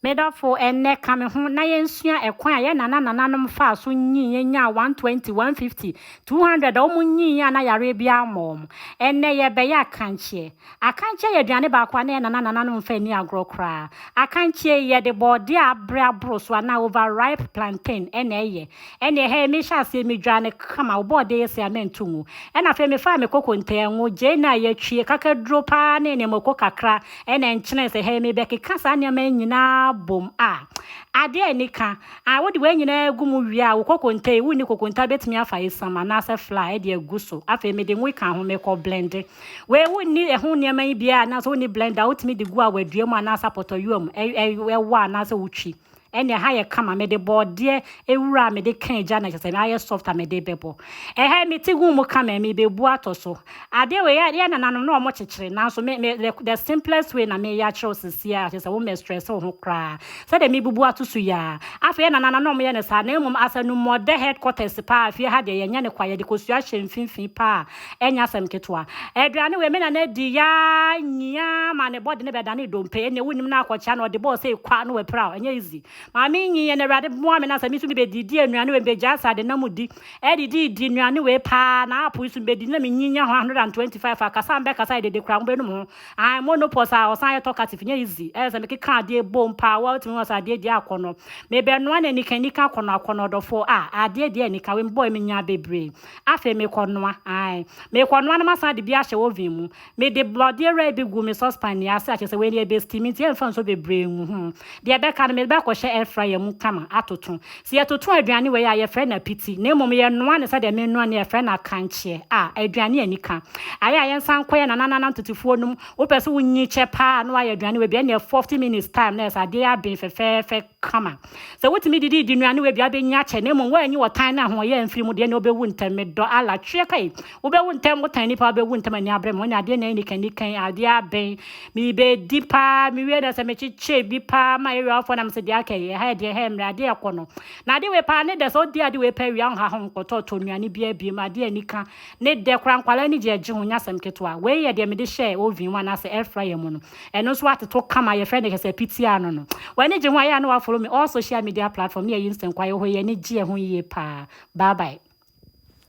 Me dɔfo, ɛnnɛ, ka me ho na yensua ɛkwan a yɛn nananananom faa so nyin, yenyaa 120, 150, 200 a wɔnyin a na yareɛ biara mmɔ wɔn. Ɛnnɛ, yɛrebɛyɛ akankyeɛ. Akankyeɛ yɛ aduane baako a na yɛn nananananom mfa nni agorɔ koraa. Akankyeɛ yi, yɛde bɔɔdeɛ a abere aboro so anaa overripe plantain na ɛyɛ. Ɛnneɛ, hɛɛ, mehyɛɛ aseɛ, midwaa no kama, wo bɔɔdeɛ yɛ sei a mento ngu. Ɛnna afei mefaa me kokonte, ngo, gyeene a yɛatwi, kakaduro pa ara ne nneɛma, ɔko kakra, Ɛna nkyene sɛ hɛn mebɛkeka saa nneɛma yi nyinaa bom a, ade a ani ka. Ae, wode wei nyinaa gu mu wie a, wo kokonta yi, wonni kokonta bɛtumi afa esiam anaasɛ flour de agu so. Afei mede ngo ka ho, mekɔ blende. Wei wonni ɛho nneɛma yi biara anaasɛ wonni blender a wotumi de gu a wɔadua mu anaasɛ apɔtɔyowa mu, ɛ, ɛ, ɛwɔ anaasɛ wotwi. Ɛnneɛ ha yɛ kama, mede bɔɔdeɛ awura a mede ka agya na kyerɛ sɛ na ayɛ soft a mede rebɛbɔ. Ɛhɛn me ti gu mu kama, merebebu atɔ so. Adeɛ wei, yɛn nananom na wɔkyekyere, nanso me, me, the, the simplest way na mereyɛ akyerɛ wo seesei ara, kyerɛ sɛ wommɛstrɛse wo ho koraa. Sɛdeɛ mebubu ato so yi ara. Afei yɛn nananom na wɔyɛ no saa, na mmom as anumɔdɛ headquarters paa, fie ha deɛ yɛnyɛ no kwa, yɛde kosua hyɛ mfimfini paa. Ɛnyɛ asɛm ketewa. Aduane wei me nana adi yaa nyia ma ne bɔde ne bɛdane dompe. Ɛnneɛ wonim no akɔkyea na ɔde bɔɔ sɛ kwa na wapiraw. Ɛnyɛ easy. Maame nyi yɛn na Awurade boa me na sɛ me nso mebɛdidi anuane wei mebɛgyaa sɛ ade na mu di. Ɛdididi nnuane wei paa na apple nso mebɛdi na menyi nya ho 125 a kasa a mebɛkasa yɛ dede koraa mobɛnum ho. Ae monopause a ɔsan yɛ talkative nyɛ easy. Ɛyɛ sɛ mekeka adeɛ bom paa wo a wotumi hu sɛ adeɛ di akɔnnɔ. Mebɛnoa no anika anika akɔnnɔ akɔnnɔ ɔdɔfoɔ a adeɛ deɛ anika wei mebɔe menyaa bebree. Afei mekɔnoa, ae, mekɔnoa na masan de bi ahyɛ oven mu. Mede borɔdeɛ wurae bi gu me saucepan yi ase a, kyerɛ sɛ wei no yɛbɛsteam nti ɛmfa nsuo bebree ngu ho. Deɛ ɛbɛka no, mede bɛkɔhyɛ air fryer mu kama atoto. Sɛ yɛtoto aduane wei a, yɛfrɛ no apiti, na mmom yɛnoa no sɛdeɛ menoa no yi a, yɛfrɛ no akankyeɛ. A, aduane a ɛnika. Ayɛ a yɛnsan nkɔ yɛn nananana ntotofuo no mu. Wopɛ sɛ wonyikyɛ paa a na woayɛ aduane wei bi, ɛnneɛ forty minutes time na ayɛ sɛ adeɛ yi aben fɛfɛɛfɛ. kama. Sɛ wotumi didi di nnuan no w'aduan bɛnyin akyɛ na mmom woanyi ɔtan ne ahoɔyɛ amfiri mu deɛ na wobɛwu ntɛm. Medɔ Allah. Tweɛ kai! Wobɛwu ntɛm, wotan nnipa a wobɛwu ntɛm ani abrɛ me, wɔne adeɛ nyinaa anikan nikan, adeɛ abɛn, mebɛdi paa, mewie na sɛ mekyekyɛ bi paa ma ɛyɛ afoɔ na mese deɛ aka yi, ɛha yɛ deɛ ɛha mmerɛ, adeɛ ɛkɔ no. Na ade wei paa ne dɛ, sɛ wodi ade wei paa wie a wonha ho nkɔtɔɔtɔ nnuane biara biom, adeɛ anika ne dɛ koraa, nkwadaa ani gye ɛgye ho, nyɛ asɛm ketewa. Wei yɛ deɛ mede hyɛɛ oven mu anaasɛ air fryer mu no. Ɛno nso atoto kama, yɛfrɛ no Kɛsɛpitia no no. W'ani gye ho a yɛ a na wafolo me all social media platform ne yɛyi nsɛnkwaa yɛ hɔ yi, ani gye ɛho yie paa. Bye bye.